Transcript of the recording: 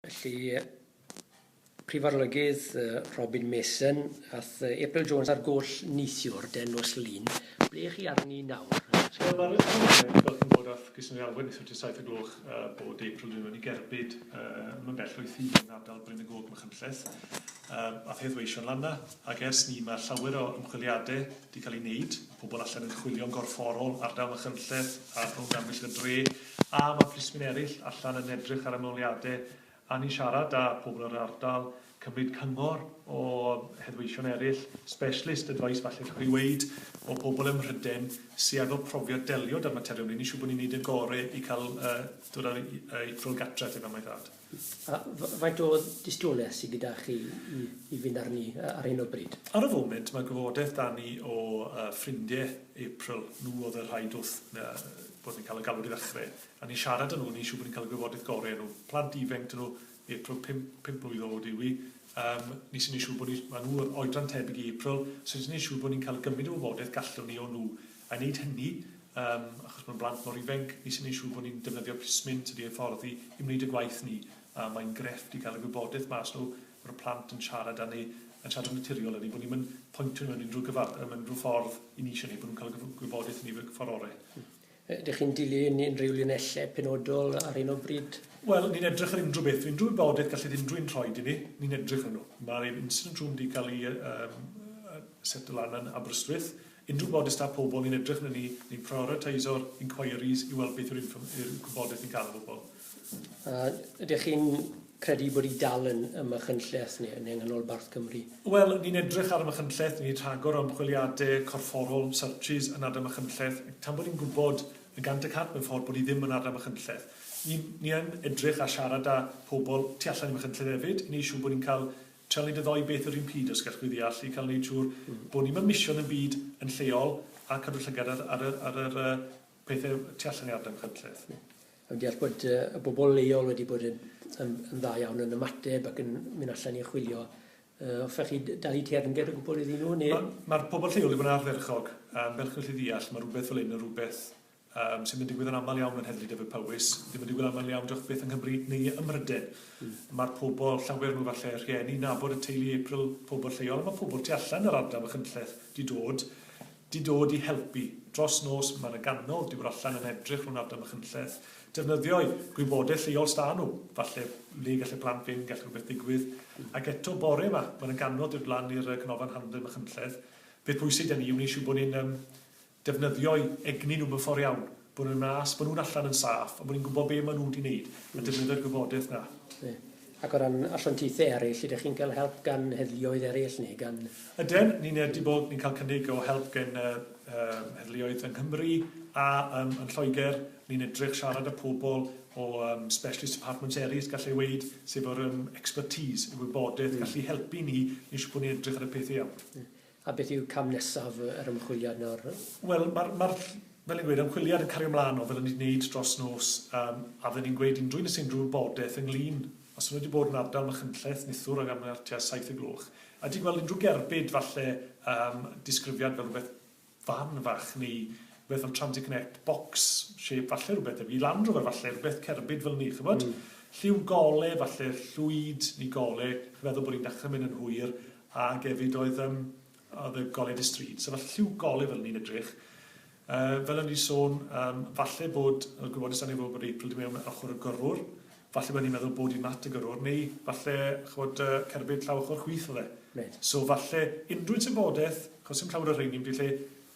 Felly, Prif Arolygydd Robin Mason, ath April Jones ar goll neithiwr, den nos Lun. Ble chi arni nawr? Wel, mae'r Arolygydd Robin yn bod ath Grisiau Neu Alwen neithiwr tua saith o gloch bod April Jones wedi gerbyd, ddim yn bell o'i thŷ hi yn ardal Bryn y Gog, Machynlleth. Ath hedd weisio'n lanna, ac ers 'ny mae llawer o ymchwiliadau wedi cael eu wneud, pobl allan yn chwilio'n gorfforol, ardal Machynlleth a rhwng amgylch y dre, A ma plismyn erill allan yn edrych ar ymholiade a ni'n siarad a pobl yr ardal, cymryd cyngor o heddweision erill, specialist advice falle gallwch chi weud, o bobl ym Mhryden sy efo profiad delio da'r materion hyn, ni'n siŵr bod ni'n neud y gore i ca'l yy dod â i yy i ffwrdd gartre te fel mae dad. A faint o dystiolaeth sydd gyda chi i i fynd arni ar hyn o bryd? Ar y foment mae gwybodaeth da ni o yy ffrindie April, nhw oedd y rhai doth yy bod ni'n cael y galwad i ddechrau, a ni'n siarad â nhw, ni'n siŵr bod ni'n cael y gwybodaeth gorau o nhw. Plant ifenc 'dyn nhw, April pump pump mlwydd oed yw hi, yym ni sy'n neud siŵr bod ni, ma' nhw oedran tebyg i April, so ni sy'n neud siŵr bod ni'n cael gymryd y wybodaeth gallwn ni o nhw I wneud hynny, yym, achos mae'n blant mor ifainc, nes i wneud siŵr bod ni'n defnyddio plismyn tydi, hyfforddi, i wneud y gwaith 'ny. A mae'n grefft i gael y gwybodaeth mas nhw, bod y plant yn siarad â ni, yn siarad yn naturiol â ni, bod ni'm yn pointio nhw mewn unrhyw gyfa- yym unrhyw ffordd i ni isie neu bod nhw'n cael y gyf- gwybodaeth yn y ffordd ore'. Ydych chi'n dilyn unrhyw linellau penodol ar hyn o bryd? Wel, ni'n edrych ar unrhyw beth, unrhyw wybodaeth gallith unrhyw un rhoi i ni, ni'n edrych arnyn nhw. Mae'r incident room wedi cael ei yy yym yy seto lan yn Aberystwyth, Unrhyw boddest â pobl, ni'n edrych arnyn ni, ni'n prioriteisio'r inquiries i weld beth yw'r infor- yw'r gwybodaeth ni'n cael o bobl. A ydych chi'n credu bod y dal yn ym Machynlleth neu yn nghanol Barth Cymru? Wel, ni'n edrych ar y Machynlleth, ni'n rhagor o ymchwiliadau corfforol, searches, yn ardal Machynlleth, tan bod ni'n gwybod yn gant y cant mewn ffordd bod hi ddim yn ardal Machynlleth. Ni, ni yn edrych a siarad â pobl tu allan i Machynlleth hefyd, i wneud siŵr bod ni'n cael Tel nid y ddou beth yr un pryd os gall chi ddeall i cael neud siŵr bod ni mewn mision yn byd yn lleol a cadw llygad ar ar yr ar yr yy pethe tu allan i ardal Cwmlleth. Ie. A fi'n deall bod yy y bobl leol wedi bod yn yn yn dda iawn yn ymateb ac yn myn' allan i chwilio yy hoffech chi d- dalu teyrnged o gwbwl iddyn nhw ne'... Ma' ma'r pobl lleol 'di bod yn ardderchog yym fel chi'n gallu ddeall ma' rwbeth fel 'yn yn rwbeth Yym, sydd yn digwydd yn aml iawn yn Heddlu Dyfed-Powys, ddim yn digwydd aml iawn diolch byth yng Nghymru neu ym Mhryden. Mae'r pobl, llawer nhw falle, rhieni, nabod y teulu April, pobl lleol, a mae pobl tu allan yr ardal Machynlleth 'di dod, 'di dod i helpu. Dros nos, mae 'na gannoedd 'di bod allan yn edrych rhwng ardal Machynlleth, defnyddio'u gwybodaeth lleol s'da nhw, falle le gall y plant fynd, gall rhywbeth ddigwydd. Ac eto bore 'ma, mae 'na gannoedd 'di dod lan i'r yy canolfan hamdden Machynlleth. Peth pwysig 'da ni yw neu' siŵr bod ni'n yym defnyddio'u egni nhw mewn ffordd iawn, bod nhw'n nas, bod nhw'n allan yn saff, a bod ni'n gwybod be maen nhw wedi wneud, a defnyddio'r gwybodaeth 'na. Ie. Ac o ran asiantaethau eraill, ydych chi'n cael help gan heddluoedd eraill neu gan... Ydyn, ni'n yy 'di bod ni'n cael cynnig o help gen yy yym heddluoedd yng Nghymru a yym yn Lloegr, ni'n edrych siarad â pobl o yym specialist departments eraill gallai weud, sy' efo'r yym expertise, y wybodaeth gallu helpu ni, ni'n siŵr bod ni'n edrych ar y peth iawn. Ie. A beth yw cam nesaf yr ymchwiliad nawr? Wel, mae'r, mae'r, fel o'n i'n gweud, ymchwiliad yn cario mlaen o fel o'n ni 'di neud dros nos, yym, a fydden ni'n gweud unrhyw un sy' unrhyw wybodeth ynglŷn, os o'n nhw 'di bod yn ardal Machynlleth, Nithwr ag arni ar tua saith y gloch, a 'di gweld unrhyw gerbyd, falle, yym, disgrifiad fel rhywbeth fan fach, neu rhywbeth fel transit net, box shape, falle rhywbeth debyg i Land Rover falle, rhywbeth cerbyd fel 'ny, ch'mod? Lliw gole, falle llwyd neu gole, chi'n meddwl bod hi'n dechre mynd yn hwyr, Ag efyd oedd yym oedd y goleuad y stryd. So falle lliw goleu fel ni'n edrych. Uh, fel o'n i'n sôn, um, falle bod y gwybodus angen fod bod April di mewn ochr y gyrrwr, falle bod ni'n meddwl bod i'n mat y gyrrwr, neu falle chwod uh, cerbyd llaw ochr chwith o dde. So falle unrhyw tebodeth, chos sy'n llawer o rheini, wedi lle